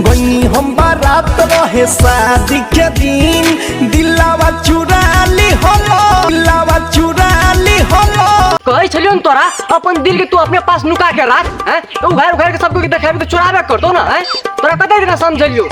गई हम बारात रहे शादी के दिन दिलावा चुरा ली होलो दिलावा चुरा ली होलो कहै छलियो न तोरा अपन दिल के तू अपने पास नुका के राख हैं उघार उघार के सबको के देखाबे के चुराबे करतो ना हैं तोरा कते दिन समझलियो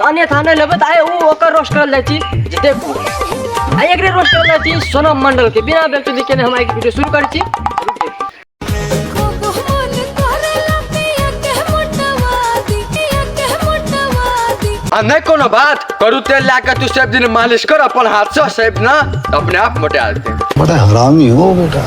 ताने थाने लेबै तऽ आइ ओ ओकर रोस्ट करल जाइ छी जे देखू आ एकरे रोस्ट करल जाइ छी सोनम मंडल के बिना बेल चली केने हम आइ वीडियो शुरू करै छी आ नहीं कोनो बात करू तेल ला के तू सब दिन मालिश कर अपन हाथ से सेब ना अपने आप मोटा देते बड़ा हरामी हो बेटा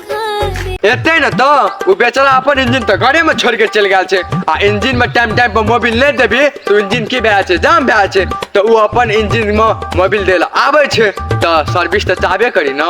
एते न तो उ बेचारा अपन इंजन तो घरे में छोड़ के चल गया छे आ इंजन में टाइम टाइम पर मोबिल नहीं देबी तो इंजन की भए छे जाम भए छे तो उ अपन इंजन में मोबिल देला आवे छे तो सर्विस तो चाहबे करी ना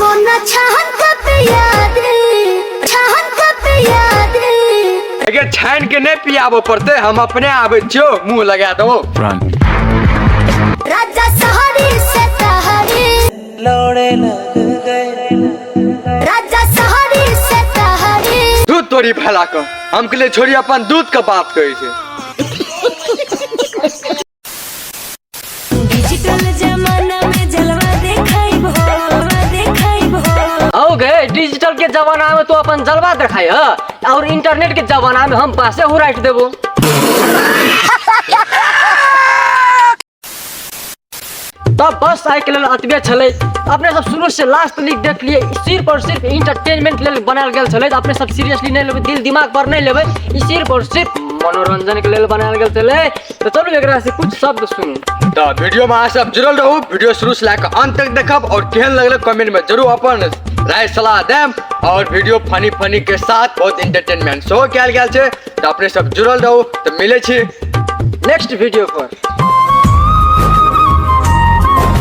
वो न छहन कब याद छहन कब याद अगर छान के नहीं पियाबो पड़ते हम अपने आबे छियो मुंह लगा दो राजा सहरी से तहरी लौड़े लग गए राजा सहरी से तहरी दूध तोरी फैला कर हम के लिए छोड़ी अपन दूध का बात कहे छे डिजिटल जमाना में जलवा देखाइब हो देखाइब हो आओ गए डिजिटल के जमाना में तो अपन जलवा दिखाई है और इंटरनेट के जमाना में हम पासे हो राइट देबो तब बस आइ के लेल अतबे छलै अपने सब शुरू से लास्ट तक देख लिए सिर्फ और सिर्फ इंटरटेनमेंट लेल बनायल गेल छलै तऽ अपने सब सीरियसली नहि लेबै दिल दिमाग पर नहि लेबै ई सिर्फ और सिर्फ मनोरंजन के लेल बनायल गेल छलै तऽ चलू एकरा से कुछ शब्द सुनू तऽ वीडियो में अहाँ सब जुड़ल रहू वीडियो शुरू से लेकर अंत तक देखब और केहन लगल कमेंट में जरूर अपन राय सलाह देम और वीडियो फनी फनी के साथ बहुत इंटरटेनमेंट सेहो कयल गेल छै तऽ अपने सब जुड़ल रहू तऽ मिलै छी नेक्स्ट वीडियो पर